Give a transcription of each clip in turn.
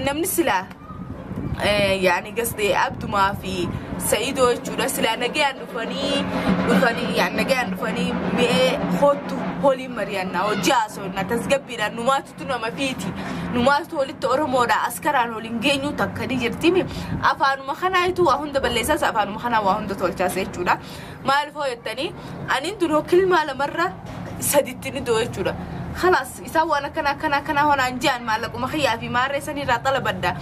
namni silaa yaani gasde abdumaa fi sa'idoo jechuudha silaa nagayaan dhufanii dhufanii yaani nagayaan dhufanii mi'ee hoottu holiin mari'annaa hojii haasofna tasgabbiidhaan numaatutu nama fiiti numaatu walitti oromoodha askaraan waliin geenyu takka ni jirtimi afaanuma kanaayitu waa hunda balleessaas afaanuma kanaa waa hunda tolchaas jechuudha maaliif hoo jettanii aniin tun hokkilmaa lamarra saditti ni doo jechuudha kalaas Isaan waan akkana akkana akkanaa honaan je'an maallaquma kiyyaa fi maarree sanii irraa xalabadha.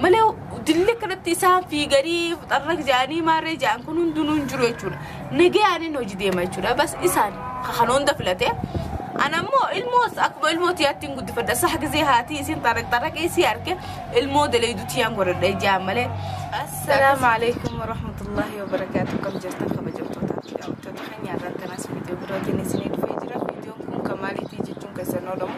Malee dilli akkanatti isaan fiiganii xarraq je'anii maarree je'an kun hundinuu hin jiru jechuudha. Nagayaanin hojii deema jechuudha. Bas isaan kan hunda filate. An ammoo ilmoo akkuma ilmoo tiyaatti hin guddifadha. Saha gizee haatii isin xarraq xarraqee si arge ilmoo daleedu tiyaan godhadha ijaan malee. Assalaamu alaikum warahmatullahi wabarakaatu. Kam jirtan kabajamtoota daawwattoota keenya irraa kanas viidiyoo birootiin isinii dhufee jira. kun kan maaliitii jechuun keessan oolamu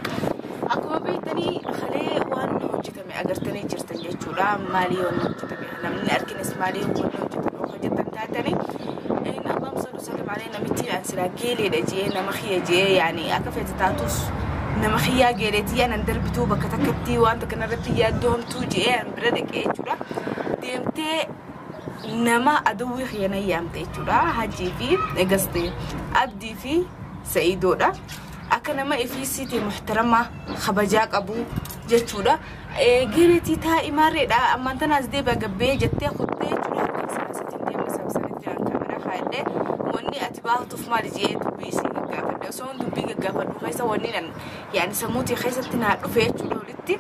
akkuma beektanii kalee waan hojjetame agartanii jirtan jechuudha maalii waan hojjetame namni arginis maalii waan hojjetame of hojjetan taatanii in abbaan sadu salim alee namichi an silaa geeleedha jee nama kiyya jee yaani akka feete taatus nama kiyyaa geeleetii anan darbituu bakka takkatti waan takka narratti yaaddoo hamtuu jee an bira dhaqee jechuudha deemtee nama aduwwii kiyya na yaamte jechuudha hajjii fi egaste abdii fi sa'iidoodha akka nama ifiisiiti muhtaramaa kabajaa qabu jechuudha geeletii taa imaarreedha ammaan tanaas deebi'a gabbee jettee kuttee jechuudha sabsanitiin deema sabsanitti jiraan kamera kaa'ellee wanni ati baatuuf maali jee dubbii isiin gaggaafadhe osoo dubbii gaggaafadhu keessa wanni nan yaani sammuutii keessatti naa dhufee jechuudha walitti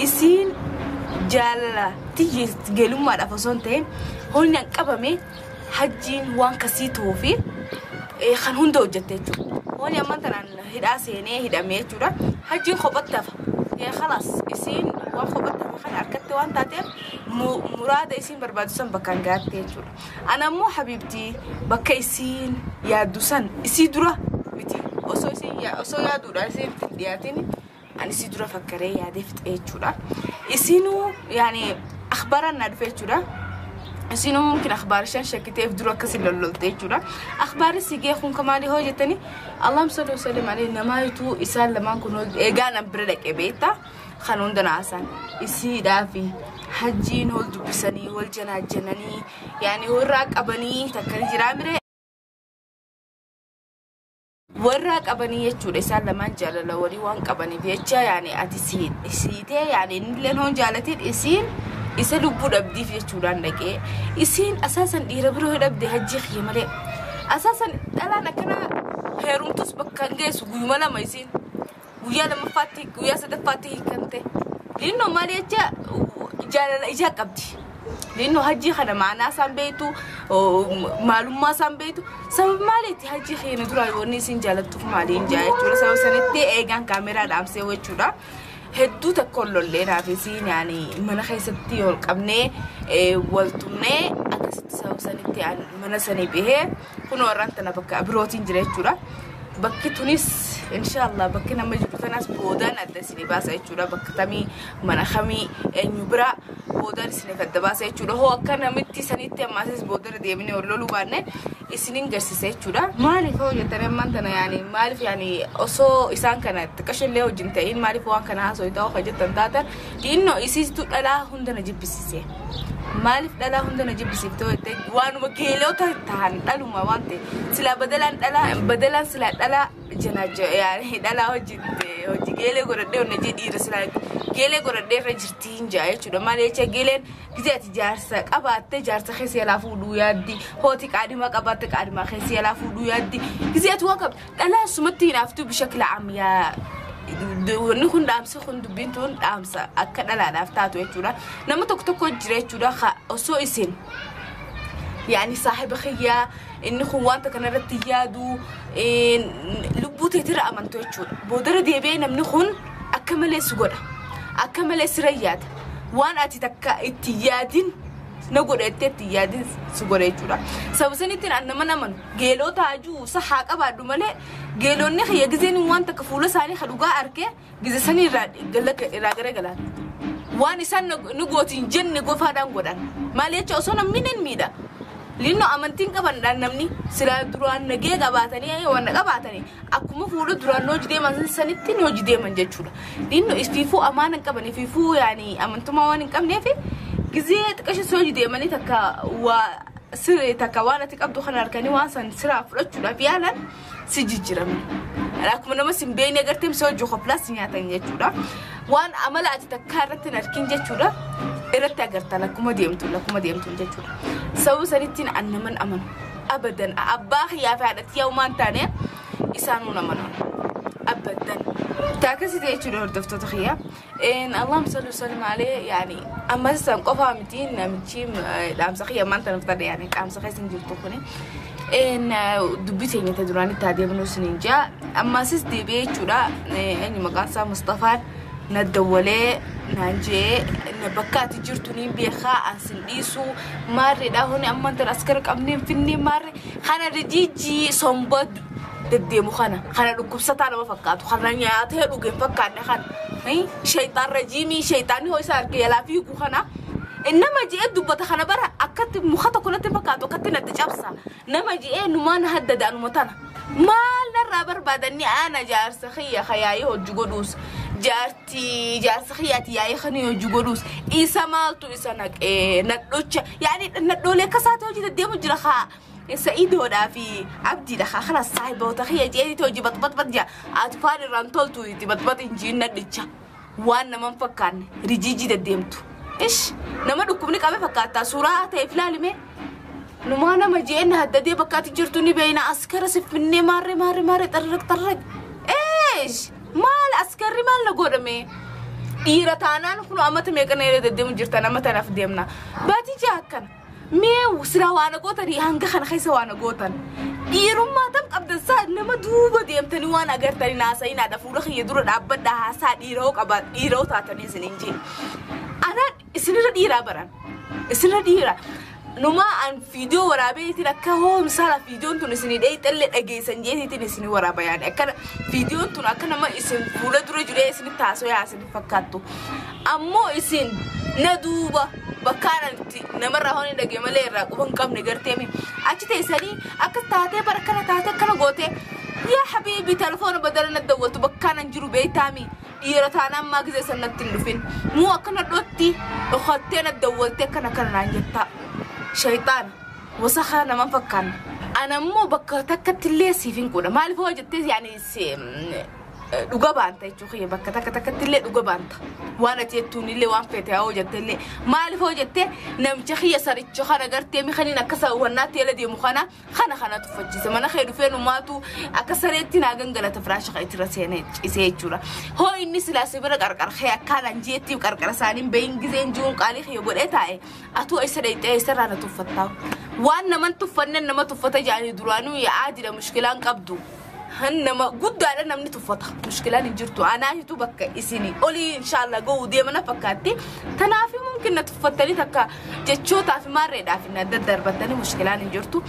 isiin jaalala tiyyi gelummaadhaaf osoo hin ta'in hoolni an qabame hajjiin waan kasii ta'uu fi eh, kan hunda hojjette jechuudha. Hoolni amma tanaan hidhaa seenee hidhamee jechuudha. Hajjiin kophatti hafa. Eh, Khalaas isiin waan kophatti hafa kana harkatti waan taateef mu- muraada isiin barbaadu san bakkaan gaatte jechuudha. Ana immoo habiibtii bakka isiin yaaddu san isii dura miti. Osoo isiin yaa- osoo yaaduudhaan isiin hin dhiyaatin ani si dura fakkaree yaadee fixee jechuudha. Isinuu yaani akhbaaraan naa dhufe jechuudha. Isinuu mumkin akhbaarishaan shakkiteef dura akkasi lollolte jechuudha. Akhbaari si gee kun kamaali hoo jettani Allahum salli wasallim alee namaa ituu isaan lamaan kun eegaa nan bira dhaqe beekta kan hunda naasaan isiidhaa fi hajjiin hol dubbisanii wal janaajjananii yaani warraa qabanii takkani jiraa miree warraa qabanii jechuudha isaan lamaan jaalala warii waan qabaniif jecha yaani ati si- siitee yaani innillee hoon jaalatiin isiin isa lubbuu dhabdiif jechuudhaan dhaqee isiin asaasan dhiira biroo yoo dhabde hajjii kiyya malee asaasan dhalaan akkanaa heerumtus bakka hin geessu guyyuma lama isiin guyyaa lammaffaatti guyyaa sadaffaatti hiikamte liinnoo maal jecha jaalala ijaa qabdi liinnoo hajjii kana maanaa isaan beektu maalummaa isaan beektu sababa maaliitti hajjii keenya duraa yoonni isin jaalattuuf maaliin jaa jechuudha sababa sanitti eegaan kaameeraa dhaamsee jechuudha. hedduu tokko lollee raafisiin yaani mana keessatti ol qabnee wal tumnee akkasitti sababa sanitti mana sanii bahee. Kun warraan tana bakka birootiin jira jechuudha. Bakki tunis inshaallah bakki nama jiru tanas boodaan adda isin baasa jechuudha. Bakka tamii mana kamii eenyu biraa boodaan isiniif adda baasa jechuudha. Hoo akka namitti sanitti ammaasis boodara deemnee ol loluu baanne isinin garsiisa jechuudha. Maaliif hoo jettan ammaan tana yaani maaliif yaani osoo isaan kana xiqqasho illee wajjin ta'in maaliif waan kana haasoo ta'uu kan jettan taatan Xiinno isiitu dhalaa hunda na jibbisiise. Maaliif dhalaa hunda na jibbisiifte yoo jette waanuma geelota tahan dhaluma waan ta'e silaa badalaan dhalaa badalaan silaa dhalaa janaacha yaani dhalaa hojii hojii geelee godhadhee onna jee dhiira silaa geelee godhadhee irra jirti hin jaa jechuudha maal jecha geeleen gisee ati jaarsa qabaatte jaarsa keessa yalaa fuudhuu yaaddi hooti qaadima qabaatte qaadima keessa yalaa fuudhuu yaaddi gisee ati waan qabdu Dhalaa sumatti hinaaftuu bishakla am yaa wanni kun dhaamsi kun dubbiin tun dhaamsa akka dhalaadhaaf taatu jechuudha. Nama tokko tokko jira jechuudha ka osoo isin yaani saahiba kiyyaa inni kun wanta kanarratti yaadu eh, lubbuu teetira amantu jechuudha. Boodara deebi'ee namni kun akka malee si godha. Akka malee sira yaada. Waan ati takka itti yaadin na godha jettee itti yaadin si godha jechuudha. Sababa sanittiin an nama namanu. Geeloo taajuu isa haa qabaadhu malee geelonni kiyya gizeen waan takka fuula isaanii ka dhugaa arke gize sanii irraa gallagga- irraa garagalaan. Waan isaan na- nu gootiin jenne gofaadhaan godhan. Maal jecha osoo namni nan miidha. Linnoo amantiin qabandhaan namni silaa duraan nagee qabaatanii waan na qabaatanii akkuma fuula duraan nooji deeman san- sanitti nooji deeman jechuudha. Linnoo ifiifuu amaana hin qaban ifiifuu yaani amantummaa waan hin qabneef gizee xiqqashu sooji deemanii takka waa sirrii takka waan ati qabdu kana harkanii waan san siraa fudhachuudhaaf yaalan si jijjiirame. Akkuma nama sin beekne agartee misoo hojii koplaas si nyaatan jechuudha. Waan amala ati takkaa irratti hin arkin jechuudha. Irratti agartan akkuma deemtu akkuma deemtu jechuudha. Sababa sanittiin an naman amanu. Abadan abbaa kiyyaa fi haadha tiyyaa uumaan taane isaanuu naman amanu. Abadan. Taakasii jechuudha hordoftoota kiyyaa. Een Allahumma salli wa sallim alayhi yaani amma san qofaa miti namichi eh, dhaamsa kiyya maanta naf tadhe yaani dhaamsa keessa hin jirtu kuni. Een eh, dubbii teenya ta duraanii taa deemnuu sin hin jaa ammasis deebi'ee jechuudha Eh, eenyu maqaan isaa Mustafaan na dawwalee naan jee na bakka ati jirtu niin beekaa an sin dhiisuu maarreedhaa honi amma tan askara qabneen finnee maarre kana rijiijii somboo deddeemu kana kana dhukkubsataa nama fakkaatu kana nyaatee dhuge hin fakkaanne kana eh, shayxaan rajiimii shayxaanni hoo isa arge yalaa fiigu kana eh, nama je'ee dubbata kana bara akkatti muka tokko natti fakkaatu akkatti natti cabsa nama je'ee numaan haddada anuma tana maal narraa barbaadanni aana jaarsa kiyya ka yaa'ii hojii godhuus jaartii jaarsa kiyyaati yaa'ii kan hojii godhuus isa maaltu isa naqee nadhocha yaa'ii nadhoolee akka isaati hojii deddeemu jira kaa Sa'idoodhaa fi abdiidha kaa kalas saahiboota kiyya jeeti hojii baxbaxbax jaa atfaal irraan toltu itti baxbax hin jiin nadhicha waan nama hin fakkaanne rijiijii deddeemtu ish nama dhukkubni qabe fakkaattaa suuraa ta'eef laalime numaa nama jeen haddadee bakka ati jirtu ni beeyna askara siffinnee maarree maarree maarree xarraq xarraq eesh maal askarri maal na godhame dhiira taanaan kun amata meeqa na irra deddeemu jirtan amata naaf deemna baatii jaa akkana Mee silaa waa na gootanii hanga kana keessa waa na gootan. Dhiirummaa tam qabdan saa nama duuba deemtanii waan agartanii naasa'inaadha fuula kiyya dura dhaabbadha haasaa dhiiroo qaba dhiiroo taatanii isin hin jiin. Ana isinirra dhiiraa baran. Isinirra dhiira. Numaa an fiidiyoo waraabee isin akka hoomsaala fiidiyoon tun isin dheeyxallee dhageessan jeetiitiin isin waraaba yaani. Akkana fiidiyoon tun akka nama isin fuula dura jiree isin taasoo yaasin. fakkaattu. Ammoo isin na duuba bakkaan ani itti namarraa hoon hin dhagee malee irraa quba hin qabne garteemi. Achi teessanii akka taatee bara kana taatee akkana gootee yaa habiibi telefoona badala na dawwatu bakkaan an jiru beektaami. Dhiira taanaan maa gizee san natti hin dhufin. Muu akkana dhootti dhokattee na dawwaltee akkana akkana naan jettaa. Shayxaana wasakaa naman fakkaanna. Anammoo bakka takkatti illee siif hin quudha. Maaliif hoo jettee yaani si- dhuga baanta jechuu kiyya bakka takka takkatti illee dhuga baanta waan ati jettuun illee waan feete haa hojjatte illee maaliif hojjatte namicha kiyya saricha kana gartee mi kaniin akka saawwannaatti eela deemu kana kana kana tuffachiise mana kee dhufee numaatu akka sareetti naa gangalata firaasha kan ittirra seenee cisee jechuudha hoo inni silaa si bira qarqara kee akkaan anjeettiif qarqara isaaniin bahin gizeen jiruun qaalii kiyya godhee taa'e atuu eessa dhayxee eessarraa na tuffattaa waan naman tuffannen nama tuffata jaanii duraanuu yaa'aa jira mushkilaan qabdu. han nama guddaadha namni tuffata mushkilaan hin jirtu anaa hitu bakka isinii olii inshaallah ga'uu deemana fakkaatti tanaafi mumkin na tuffattanii takka jechootaa fi maarreedhaa fi na daddarbattanii mushkilaan hin jirtu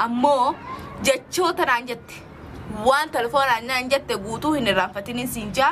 ammoo jechoota naan jette waan telefoonaan naan jette guutuu hin irraanfatiniin siin jaa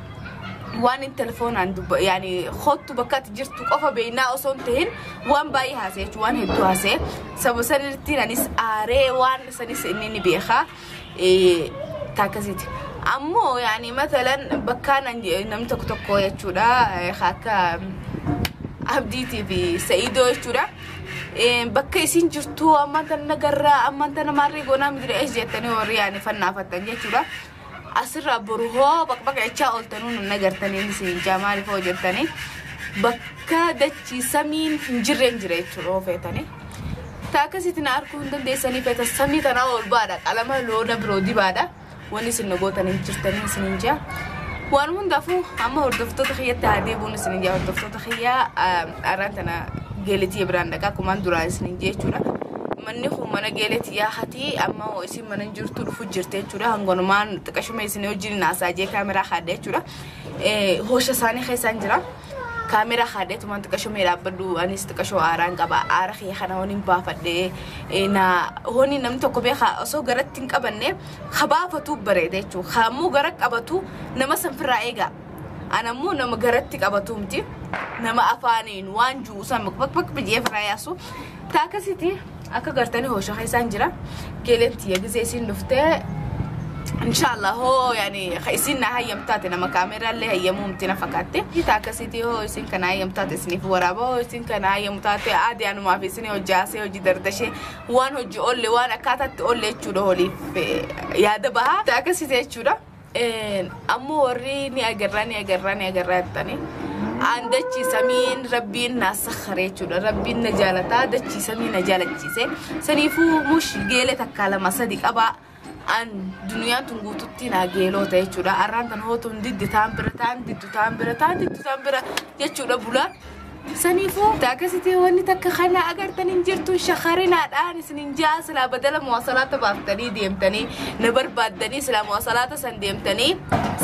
waan telefoonaan dubba yaani kottu bakka ati jirtu qofa beeknaa osoo hin tahin waan baay'ee haasa'e jechuun waan hedduu haasa'e saba sanirratti anis aaree waan sanis inni ni beeka taakkasiiti. Ammoo yaani matalan bakka namni tokko tokko jechuudha akka abdiitii fi sa'idoo jechuudha. Bakka isin jirtu ammaan tana nagarraa ammaan tana maarree goonaa midira ees jettanii warri yaani fannaafattan jechuudha. Asirraa boru hoo baqbaqa jechaa ooltanuu nun agartanii inni siin jaa maaliif hoo jettanii bakka dachii samiin hin jirreen jira jechuudha hoo feetanii. Ta akkasitti na arguu hin dandeessanii feetan samii tanaa ol baadha qalama loona biroo dibaadha wanni isin na gootan hin jirtanii isin hin jaa. Waan hundaafuu amma hordoftoota kiyyatti haa deebi'uun isin hin jaa hordoftoota kiyyaa araan tana geeletii biraan dhaqaa kumaan duraan isin hin jechuudha. Manni kun mana geeletii yaa hatii amma hoo isin mana hin jirtu dhufu jirti jechuudha hangonumaan xiqqashuma isin wajjin naasaa jee kaameraa kaadde jechuudha hoosha isaanii keessaan jira kaameraa kaadde tumaan xiqqashuma dhaabbadhu anis xiqqashoo aaraan qaba aara kiyya kana honiin baafadhe na honi namni tokko beeka osoo garatti hin qabanne ha baafatu bareeda jechuudha ha ammoo gara qabatu nama sanfirraa eega an ammoo nama garatti qabatu miti nama afaaniin waan juusan bakbak biyyee firaa yaasu Ta akkasiti akka gartanii hosha keessaan jira geeleen tiyya gizee isiin dhuftee inshallah hoo yani ka isiin na hayyam taate nama kaameeraa illee hayyamuu miti na fakkaatte ta akkasiti hoo isiin kana hayyam taate isiniif waraaba hoo isiin kana hayyamu taate aadee anumaaf isinii hojjaasee hojii dardashee waan hojii oolle waan akkaataatti oolle jechuudha holiif eh, yaada bahaa ta akkasiti jechuudha. ammoo warri ni agarraa ni agarraa ni agarraa jettanii aan dachii samiin rabbiin naa sakharee jechuudha rabbiin na jaalataa dachii samii na jaalachiise saniifuu mush geelee takkaa lama sadi qabaa aan duniyaan tun guututti naa geeloo ta'e jechuudha arraan tan hootuun diddi taan bira taan diddu taan bira taan diddu taan bira jechuudha bulaa Saniifuu akkasitti wanni takka kana agartan hin jirtu shakarinaadhaan isin hin ja'a silaa badala muwaasalaata baaftanii deemtanii na barbaaddanii silaa muwaasalaata san deemtanii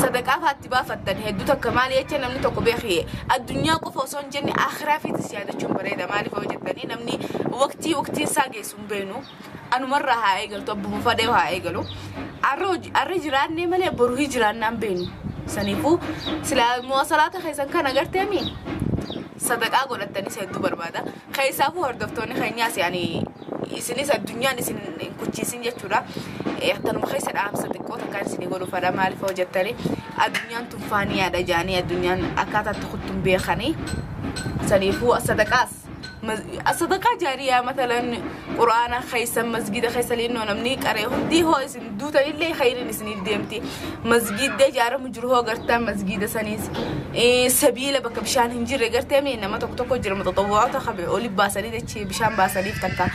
sadaqaa faatti baafattan hedduu takka maali jecha namni tokko beekee addunyaa qofa osoo hin jenne akhiraa fiitis yaadachuun bareeda maaliif yoo jettanii namni waqtii waqtii isaa geessu hin beeknu anumarraa haa eegaltu abba fufadee haa eegalu arra hoji- arra jiraannee malee boru hin jiraannaan beenu saniifuu silaa muwasalaata keessan kan agarteemi sadaqaa godhattanis hedduu barbaada keessaafuu hordoftoonni keenyaas yaani isinis addunyaan isin hin kuchiisin jechuudha Eh, akkanuma keessa dhaamsa xiqqoo takkaan isinii godhu fadha maaliif hoo jettanii addunyaan tunfaaniyaadha jaanii addunyaan akkaataa itti kuttuun beekanii saniifuu sadaqaas sadaqaa jaariyaa matalan quraana keessan masgida keessa linnoo namni qaree hundi hoo isin duutan illee khayriin isiniif deemti masgida ijaaramu jiru hoo gartaan masgida saniis sabiila bakka bishaan hin jirre gartee mee nama tokko tokko jira maxaxawwaata qabe oli baasanii dachee bishaan baasaniif takka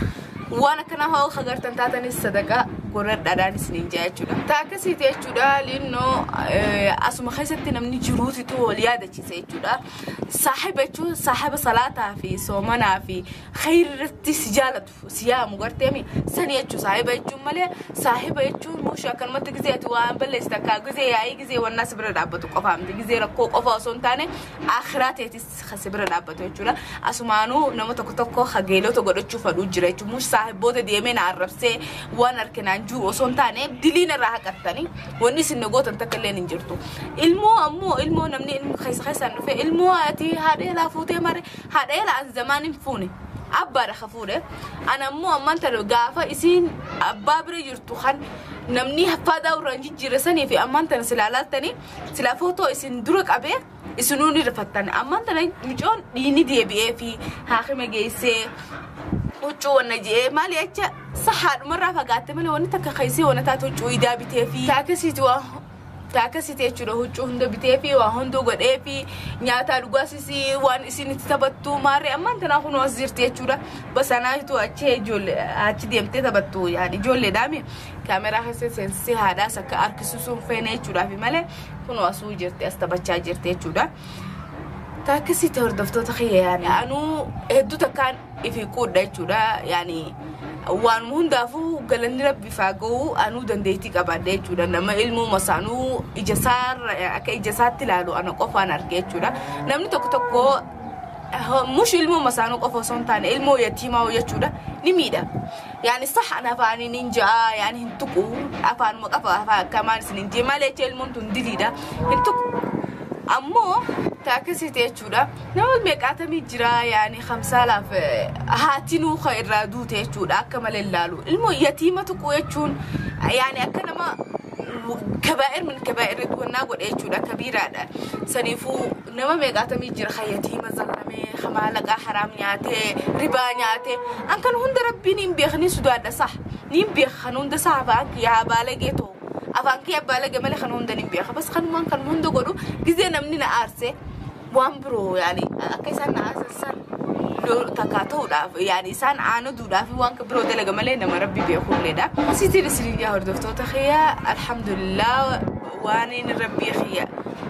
waan akkanaa hoo akka gartan taatanis sadaqaa godhadhaadhaan isiniin jaa jechuudha. Taa akkasiiti jechuudha linnoo asuma keessatti namni jiruutitu wal yaadachiisa jechuudha. Saahiba jechuun saahiba salaataa fi soomanaa fi khayrirratti si jaalatu si yaamu garteemi sani jechuun saahiba jechuun malee saahiba jechuun mushi akkanumatti gizee ati waan balleessi takkaa gizee yaa'ii gizee wannaa si bira dhaabbatu qofaa miti gizee rakkoo qofaa osoo hin taane akhiraa teetis kan si bira dhaabbatu jechuudha asumaanuu nama tokko tokko hageelota godhachuu fadhuu jira jechuun mushi saahiboota deemee na arrabsee waan arkinaan jiru osoo hin taane diliin irraa haqattanii Wanni isin na gootan takka illee hin jirtu. Ilmoo ammoo ilmoo namni ilmoo keessa keessaan dhufe ilmoo ati haadha eelaa fuutee mare haadha eelaa an zamaan hin fuune. Abbaadha ka fuudhe. An ammoo ammaan tana gaafa isiin abbaa bira jirtu kan namni haffaadaa irraan jijjiirre sanii fi ammaan tana silaa laaltanii silaa footoo isin dura qabee isinuu ni rifattan ammaan tana micoon dhiini deebi'ee fi haakima geessee huccuu wanna je'ee maali acha sahaadhumarraa fagaatte malee wanni takka keessee wanna taate huccuu idaa bitee fi taakasiiti waa taakasiiti jechuudha huccuu hunda bitee fi waa hunduu godhee fi nyaataa dhugaasisi waan isin itti taphattu maarree ammaan tanaa kunoo as jirti jechuudha basanaayitu achi ijoollee achi deemtee taphattu yaani ijoolleedhaami kaameraa keessa seensisee haadhaas akka harkisuusuun feene jechuudhaafi malee kunoo asuu jirti as taphachaa jirti jechuudha. Taakkisitti hordoftoota kiyya yaani anuu hedduu takkaan ifi quudha jechuudha yaani waanuma hundaafuu galanni rabbi faaga'uu anuu dandeettii qabaadha jechuudha nama ilmuuma saanuu ija saarra akka ija saatti ilaalu ana qofaan arge jechuudha namni tokko tokko mush ilmuuma saanuu qofa osoo hin taane ilmoo yatiimaa jechuudha ni miidha. yaani sah an afaanii nin ja'a yaani hin tuqu afaanuma qafa afaan akkamaan isin hin jee malee jee ilmoon tun diliidha hin tuqu ammoo ta akkasiiti jechuudha nama meeqaatamii jira yaani kamsaalaaf eh, haati nuuka irraa duute jechuudha akka malee ilaalu ilmoo yatiima tuqu jechuun yaani akka nama kabaa'ir min kabaa'ir gonnaa godhe jechuudha kabiiraadha saniifuu Nama meeqaatamii jira kan yatiima zallamee, kan maallaqaa haraam nyaatee, ribaa nyaatee. An kan hunda rabbiin hin beeka ni sudaadha sah. Niin beeka kan hunda sah afaan kiyya haa baalagee too. Afaan kiyya baalage malee kan hunda niin beeka. Bas kanumaan kan hunda godhu gizee namni na aarse waan biroo yaani akka isaan na aarsan san loo takkaa ta'uudhaaf yaani isaan aanaduudhaaf waan kan biroo dalaga malee nama rabbi beekulleedha. Sitiin isiniin yaa hordoftoota kiyya alhamdulillah. waaniin rabbii kiyya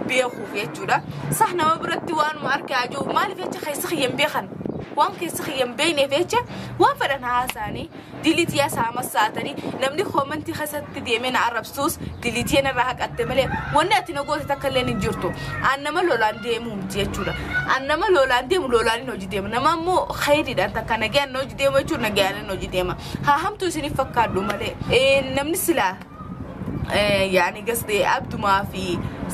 beekuuf jechuudha sah nama biratti waanuma arke ajoo maaliif jecha keessa kiyya hin beekan waan keessa kiyya hin beekneef jecha waan fedhan haasaanii diliitiyaa saama saatanii namni koomantii keessatti deemee na arrabsuus diliitiyaa narraa haqatte malee wanni ati na goote takka illee hin jirtu an nama lolaan deemuu miti jechuudha an nama lolaan deemu lolaan hin hojii deema nama immoo khayriidhaan takka nagayaan hin hojii deema jechuudha nagayaan hin hojii deema haa hamtuu isiniif fakkaadhu malee namni silaa yaani gasdee abdumaa fi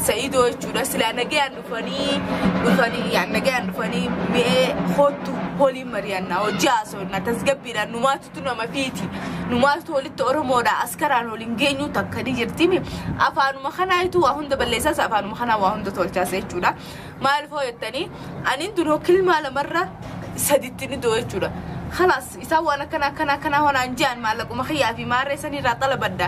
sa'idoo jechuudha silaa nagayaan dhufanii dhufanii yaani nagayaan dhufanii mi'ee hoottu holiin mari'annaa hojii haasofna tasgabbiidha numaatutu nama fiiti numaatutu walitti oromoodha askaraan waliin geenyuu takka ni jirtimi afaanuma kanaayitu waa hunda balleessaas afaanuma kanaa waa hunda tolchaas jechuudha maaliif hoo jettanii anin duroo kilmaa lamarra saditti ni doo jechuudha kalaas Isaan waan akkana akkana akkanaa wanaan je'an maallaquma kiyyaa fi maarree san irraa xalabadha.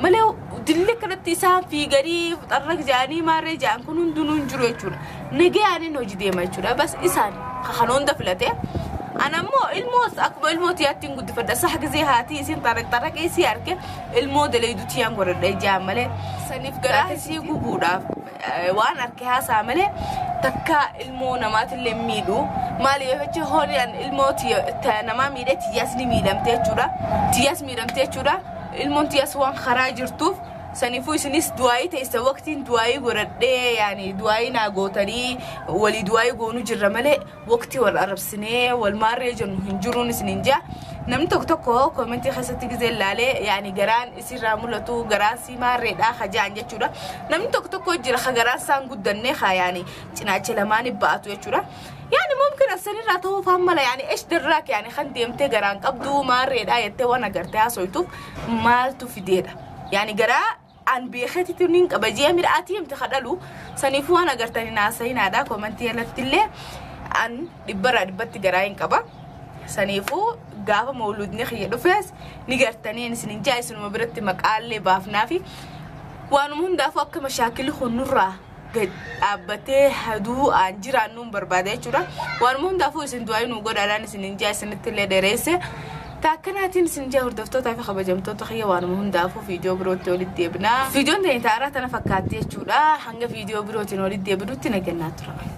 Malee dilli akkanatti isaan fiiganii xarraq je'anii maarree je'an kun hundinuu hin jiru jechuudha. Nagayaanin hojii deema jechuudha. Bas isaan kan hunda filate. Ana immoo ilmoos akkuma ilmoo tiyaatti hin guddifadha. Sah gizee haatii isin xarraq xarraqee isii arge ilmoo daleedu tiyaan godhadha ijaan malee. Saniif garaa isii gubuudhaaf. waan arke haasaa malee takka ilmoo namaatillee miidhu maali yoo jecha horii an ilmoo namaa miidhe tiyyaas ni miidhamte jechuudha tiyyaas miidhamte jechuudha ilmoon tiyyaas waan karaa jirtuuf saniifuu isinis du'aayii teessa waqtiin du'aayii godhadhee yaani du'aayii naa gootanii walii du'aayii goonu jirra malee waqtii wal arrabsinee wal maarree jennu hin jiruun isiniin jaa namni tokko tokko koomentii keessatti gizee laalee yaani garaan isirraa mul'atu garaan sii maarreedhaa hajaan jechuudha namni tokko tokko jira ka garaan isaan guddannee haa yaani cinaacha lamaanii ba'atu jechuudha yaani mumkin asanirraa ta'uu faan mala yaani esh darraak yaani kan deemtee garaan qabduu maarreedhaa jettee waan agartee haasoytuuf maaltu fideedha yaani garaa an beeketitu nin qaba jee mira ati himte ka dhalu saniifuu waan agartan hin haasa'inaadha komantii jalatti illee an dhibbarraa dhibbatti garaa hin qaba saniifuu gaafa mawluudni kiyya dhufees ni gartaniin isin hin jaa isinuma biratti maqaallee baafnaafi waanuma hundaafuu akka mashaakilli kun nurraa gad dhaabbatee haduu aan jiraannuun barbaada jechuudha. Waan hundaafuu isin du'aayi nuu godhaadhaan isin hin jaa isinitti illee dheereesse. Taakkanaatiin isin jaa hordoftootaa fi kabajamtoota kiyya waan hundaafuu viidiyoo birootti walitti deebina. Viidiyoon ta'e ta'araa tana fakkaatti jechuudha. Hanga viidiyoo birootiin walitti deebinutti nagannaa tura.